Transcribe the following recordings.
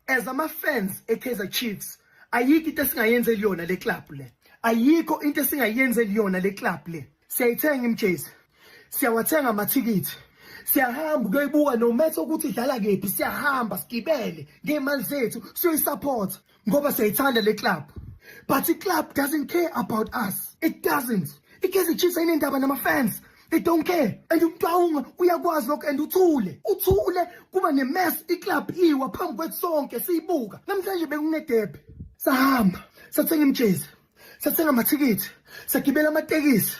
as ama fans e Kaizer Chiefs ayikho into esingayenzeli yona le club le ayikho into esingayenzeli yona le club le siyayithenga imjezi siyawathenga amathikithi siyahamba kuyoyibuka no matter ukuthi idlala kephi siyahamba sigibele ngeemali zethu siyoyisupport ngoba siyayithanda le club but i club doesn't care about us it doesn't ikaizer chiefs ayinendaba nama fans they don't care and umuntu awunga uyakwazi lokho and uthule uthule kuba ne-mess iclub iwa phambi kwethu sonke siyibuka namhlanje bekunedebe sahamba sathenga imjezi sathenga amathikithi sagibela amatekisi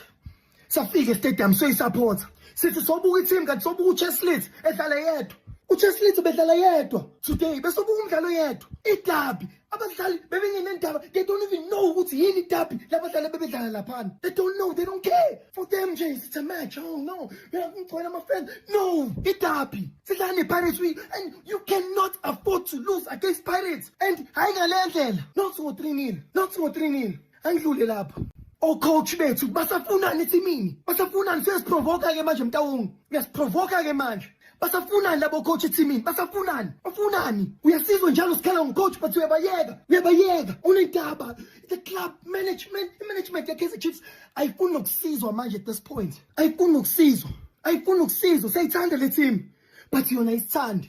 safika estadium soyisapotha sithi sobuka iteam kanti sobuka ucheslit edlala yedwa ucheslit bedlala yedwa today besobuka umdlalo yedwa idabi abadlali bebengenendaba they don't even know ukuthi yini itabi labadlali bebedlala laphana they don't know they don't care for them nje it's a match oh no ngigcwele amafan no itabi sidlala nepirates we and you cannot afford to lose against pirates and hayi ngale ndlela not ngo-three nil not ngo-three nil Andlule lapho. Ocoach bethu basafunani ethimini? Basafunani sesiprovoka ke manje mtawongi. Uyasiprovoka ke manje. Basafunani labo coach ethimini? Basafunani? Ufunani? Uyasizwa njalo sikhala ngocoach but uyabayeka. Uyabayeka. Unentaba. The club management, management ya Kaizer Chiefs ayifuni nokusizwa manje at this point. Ayifuni nokusizwa. Ayifuni nokusizwa. Seyithanda le team. But yona isithanda.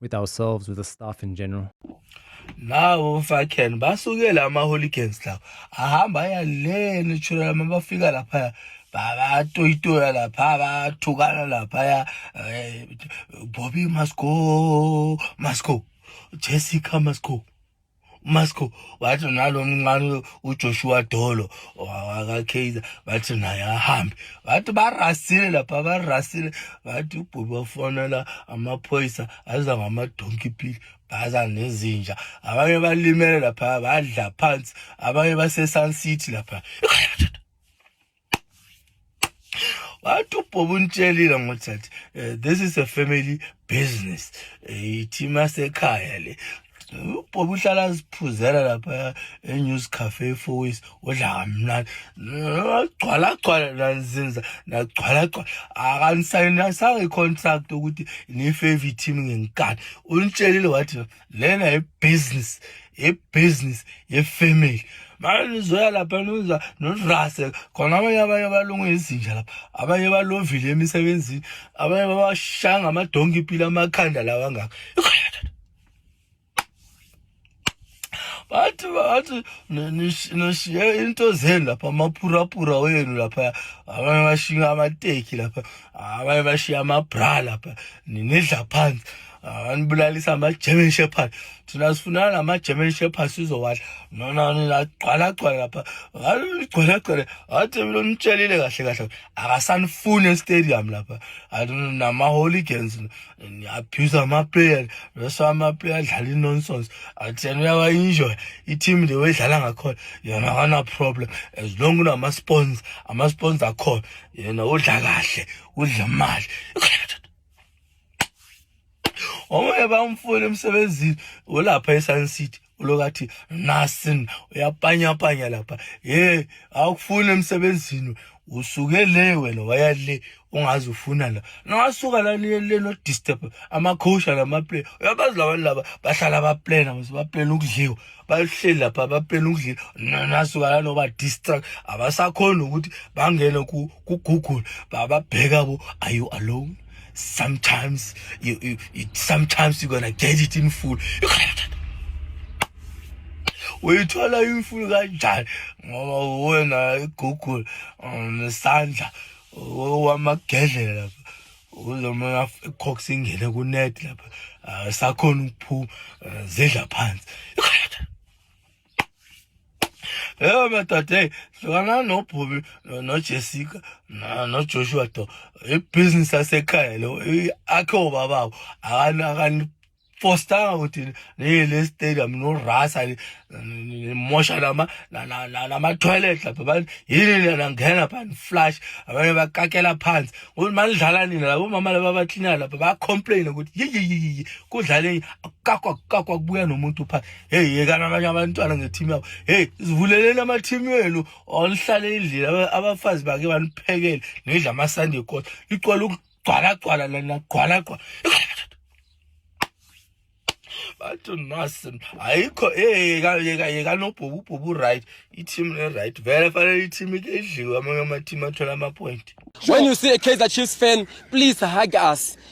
with ourselves with the staff in general nawo mfakheni basukele ama-hooligans lawo ahamba aya le natural ma bafika laphaya bayatoyitoya lapha bayathukana laphaya eh, bobi must go must go jessica must go umasco wathi nalo mncane ujoshua dolo wakakaizer bathi naye ahambe bathi barasile lapha barasile bathi ubhubi wafonela amaphoyisa aza ngamadonki pili baza nezinja abanye balimele lapha badla phansi abanye basesun city lapha wathi ubhobo unitshelile ngokuthi athi eh, this is a family business ithima eh, sekhaya le ubhobo uhlala aziphuzela lapha enews cafe efois odla kamnani agcwala agcwala nanzinza nagcwala agcwala akanisayinasanga i-contract ukuthi niyi-favorite team ngenkani unitshelile wathi lena ibusiness ibusiness yefamily manje nizoya lapha niza nirase khona abanye abanye balungu izinja lapha abanye balovile emisebenzini abanye babashanga amadonki impilo amakhanda lawa angaka bathi bathi nishiye into zenu lapha amaphuraphura wenu lapha abanye bashiya amateki lapha abanye bashiya amabra lapha ninidla phansi anibulalisa ah, ama-german shepherd thina sifunana nama-german shepherd sizowadla nonani lagcwalagcwala lapha ligcwalagcwale athi mina nitsheliile kahle kahle akasanifuni estadium lapha nama-hooligans niabuse amaplayer bese amaplayer adlala i-nonsons athi yena uyawa-enjoya i-team le wayidlala ngakhona yena akana-problem as long kunama-spons ama-spons akhona yena udla kahle udla imali omunye bamfuna emsebenzini olapha esun city ulokathi nasin uyapanyapanya lapha ye awukufuni emsebenzini usuke le wena waya le ungazi ufuna la nawasuka la niye le no disturb amakhosha lamaplay uyabazi labantu laba bahlala baplena mase baplena ukudliwa bahleli lapha baplena ukudliwa nasuka la noba distract abasakhona ukuthi bangene ku Google bababheka bo are you alone sometimes you, you, you sometimes you're gonna get it in full uyithola imfuyo kanjani ngoba uwena igugula nesandla wamagedlela lapha uzomona icox ingene kunet lapha sakhona ukuphuma zidla phansi Ewe madoda eyi hlukana nobhubi nojessica nojoshua do ibhizinisi yasekhaya lo akhe obababo akanifostanga ukuthi niye le stadium norasa nimosha namatoilet lapha abantu yini nina ngena pha niflash abanye bakakela phansi ukuthi manidlala nina labo mama laba abaklinayo lapha bayacomplaina ukuthi yiyiyiyi kudlale kakwa kakwa kubuya nomuntu phansi hey yekana abanye abantwana ngeteam yabo hey zivuleleni amateam wenu onihlale endlini abafazi bake baniphekele nidla amasunday kota licwala ukugcwalagcwala lana gcwalagcwala bathi nasin ayikho yekanobhububhubu right i-team e-right vele fanele i-team ike idliwe amanye ama-team athola ama-point when you see a kaizer chiefs fan please hug us